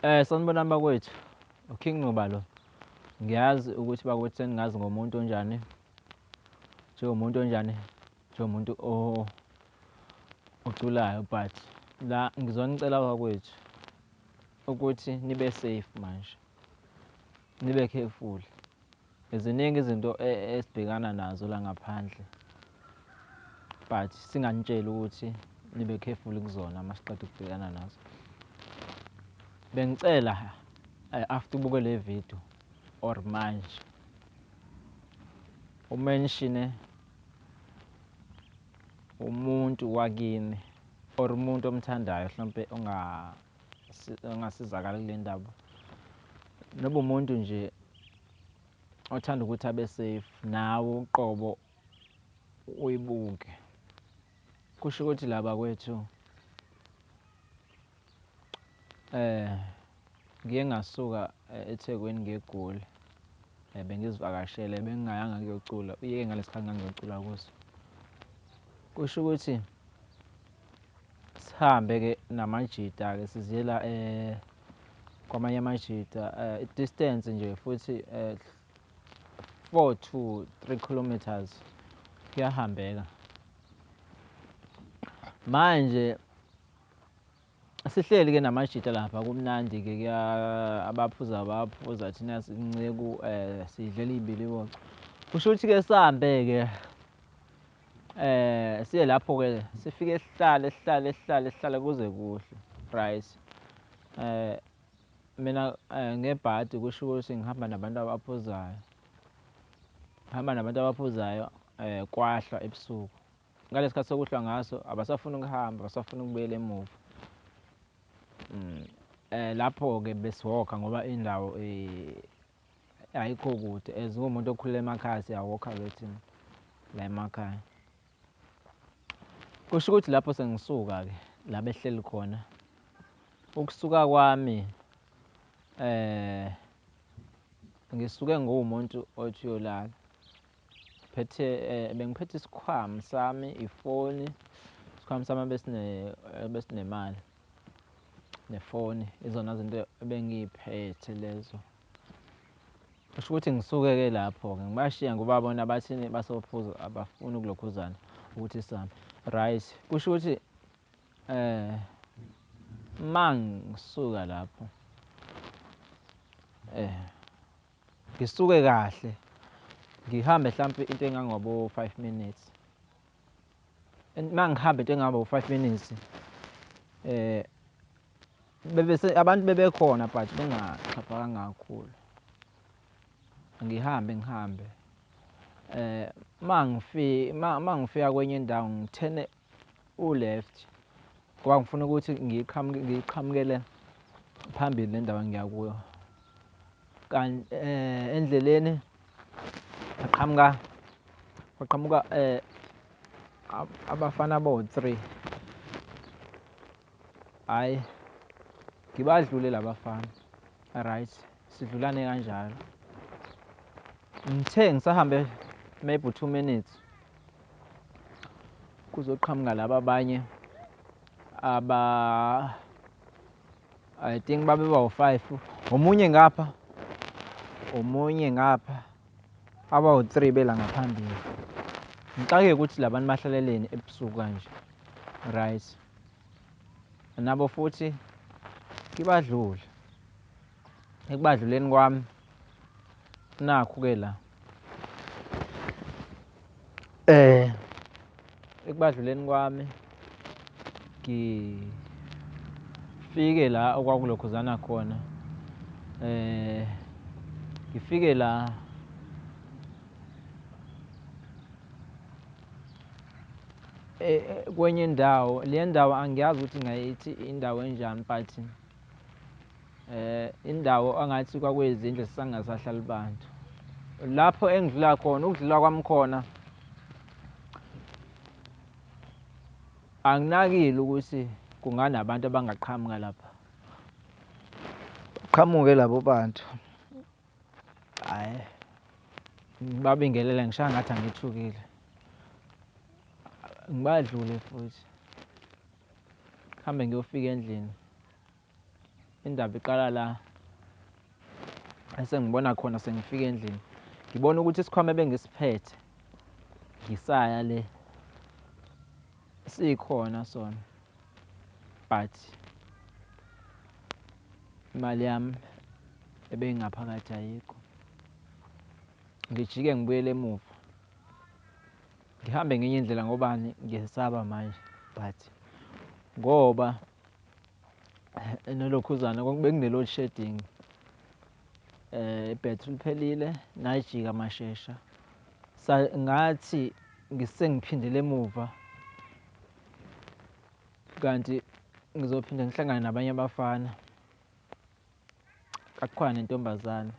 Eh sanibonani bakwethu. UKing Ncuba lo. Ngiyazi ukuthi bakwethu seningazi ngomuntu onjani. Njengomuntu onjani? Njengomuntu o oculayo but la ngizonicela bakwethu ukuthi nibe safe manje. Nibe careful. Ziningi izinto esibhekana nazo la ngaphandle but singanitsheli ukuthi nibe careful kuzona masiqeda ukubhekana nazo. Bengicela eh, after ubuke le video or manje umenshine umuntu wakini or umuntu omthandayo hlompe onga ongasizakala kule ndaba noba umuntu nje othanda ukuthi abe safe nawe uqobo uyibuke kusho ukuthi laba kwethu eh ngiye ngasuka eh, eThekwini ngegoli eh, bengizivakashele bengingayanga kuyocula uyeke ngalesikhathi ngangiyocula kuso kusho ukuthi sihambe ke namajita ke siziyela eh kwamanye amajita eh, distance nje futhi eh, 4 to 3 kilometers kuyahambeka manje sihleli ke namajita lapha kumnandi ke kuya abaphuza abaphuza thina sinceku eh sidlela ibiliboco kusho ukuthi ke sambe ke Eh siye lapho ke sifike sihlale sihlale sihlale sihlale kuze kuhle right eh mina eh, ngebhadi kusho ukuthi ngihamba nabantu abaphuzayo ngihamba nabantu abaphuzayo eh kwahlwa ebusuku ngalesi khathi sokuhlwa ngaso abasafuni ukuhamba abasafuni ukubuyela emuva mm, eh lapho ke besihoga ngoba indawo eh ayikho kude as ngumuntu okhulele emakhaya siyawokha kethini la emakhaya kusho ukuthi lapho sengisuka-ke la behleli khona ukusuka kwami eh ngisuke nguwumuntu othi uyolala phethe eh, bengiphethe isikhwama sami ifoni isikhwama sami besinemali nefoni izona zinto ebengiyiphethe lezo kusho ukuthi ngisuke-ke lapho-ke ngibashiya ngoba bona bathini basophuza abafuni ukulokhuzana ukuthi sihambe right kusho ukuthi um ma ngisuka lapho um ngisuke kahle ngihambe hlampe into engangabo-five minutes and mangihambe into engihamba u-five minutes eh bebese abantu bebekhona but bengaxhaphakanga kakhulu ngihambe ngihambe eh mangifika mangifika kwenye indawo ngithene u-left ngoba ngifuna ukuthi ngiqhamuke ngiqhamukele phambili nendawo engiya kuyo kanti eh endleleni Aqhamuka aqhamuka eh abafana bo 3. Hayi. Ngibadlule labafana. Right. Sidlulane kanjalo. Ngithe ngisahambe maybe 2 minutes kuzoqhamuka laba abanye aba I think babeba u-five omunye ngapha omunye ngapha aba u-three bela ngaphambili ngixakeke ukuthi labantu bahlaleleni ebusuku kanje right nabo futhi kibadlule ekubadluleni kwami nakhu ke la eh ekubadluleni kwami ngifike la okwakulokhuzana khona eh ngifike la eh, eh, kwenye indawo le ndawo angiyazi ukuthi ngayithi indawo enjani but eh indawo angathi kwakuyizindlu sisangasahlali bantu lapho engidlula khona ukudlula kwami khona anginakile ukuthi kunganabantu abangaqhamuka lapha qhamuke labo bantu hayi ngibabingelele ngishaya ngathi angithukile ngibadlule futhi Hambe ngiyofika endlini. Indaba iqala la esengibona khona sengifika endlini. Ngibona ukuthi isikhwama ebengisiphethe ngisaya le sikhona sona but imali yami ebeyingaphakathi ayikho. Ngijike ngibuyele emuva. Ngihambe ngenye indlela ngobani ngiyesaba manje but ngoba eh, nolokhuzana bekune-load shedding eh battery liphelile najika mashesha sa ngathi ngisengiphindele emuva kanti ngizophinde ngihlangane nabanye abafana kakhona nentombazane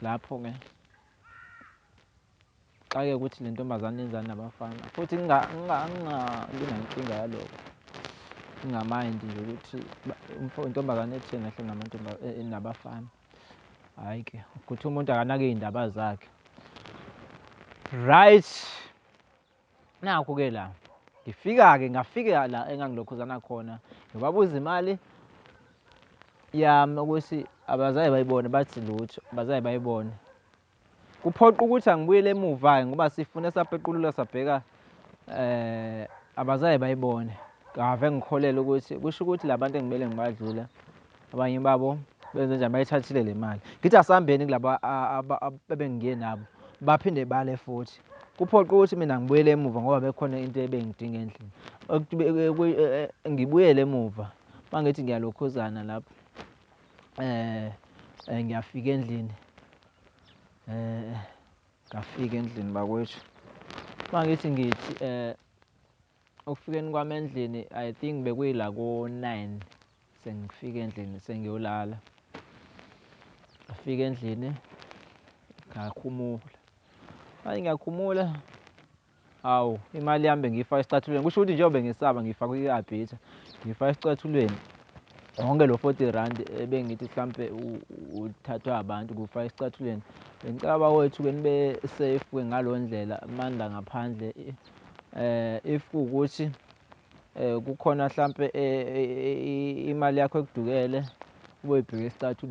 lapho-ke Ngixake ukuthi le ntombazane yenzani nabafana futhi angingabi nankinga yaloko. Ngingamayindi nje ukuthi intombazane etheni ahleli namantombazane eh, eh, nabafana. Hhayi ke ukuthi umuntu akanake iy'ndaba zakhe. Right. Nakhu-ke la ngifika-ke ngafika la engangilokhuzana khona ngibabuza imali yami ukuthi abazaye bayibone bathi lutho abazaye bayibone Kuphoqa ukuthi angibuyele emuva-ke ngoba sifune sapequlula sabheka eh abazaye bayibone. Ngave ngikholelwa ukuthi kusho ukuthi labantu engimele ngibadlula abanye babo benze njani bayithathile le mali. Ngithi asambeni kulaba abengiye nabo baphinde bale futhi. Kuphoqa ukuthi mina ngibuyele emuva ngoba bekhona into ebengidinga endlini. E, e, e, ngibuyele emuva mangithi ngiyalokhuzana lapho eh, eh ngiyafika endlini eh ngafika endlini bakwethu mangithi ngithi eh okufikeni kwami endlini i think bekuyila ko-nine sengifika endlini sengiyolala ngafika endlini ngakhumula manje ngiyakhumula Awu, imali yami bengiyifaka esicathulweni. Kusho ukuthi njengoba bengisaba ngiyifaka kwi-arbiter, ngiyifaka esicathulweni. Wonke lo 40 rand ebengithi mhlampe uthathwa abantu kufa esicathulweni. Bengicela bawethu ke nibe safe ke ngalo ndlela amandla ngaphandle eh if ukuthi eh kukhona mhlampe eh, eh, eh, imali yakho ekudukele ubuyibheke esicathulweni.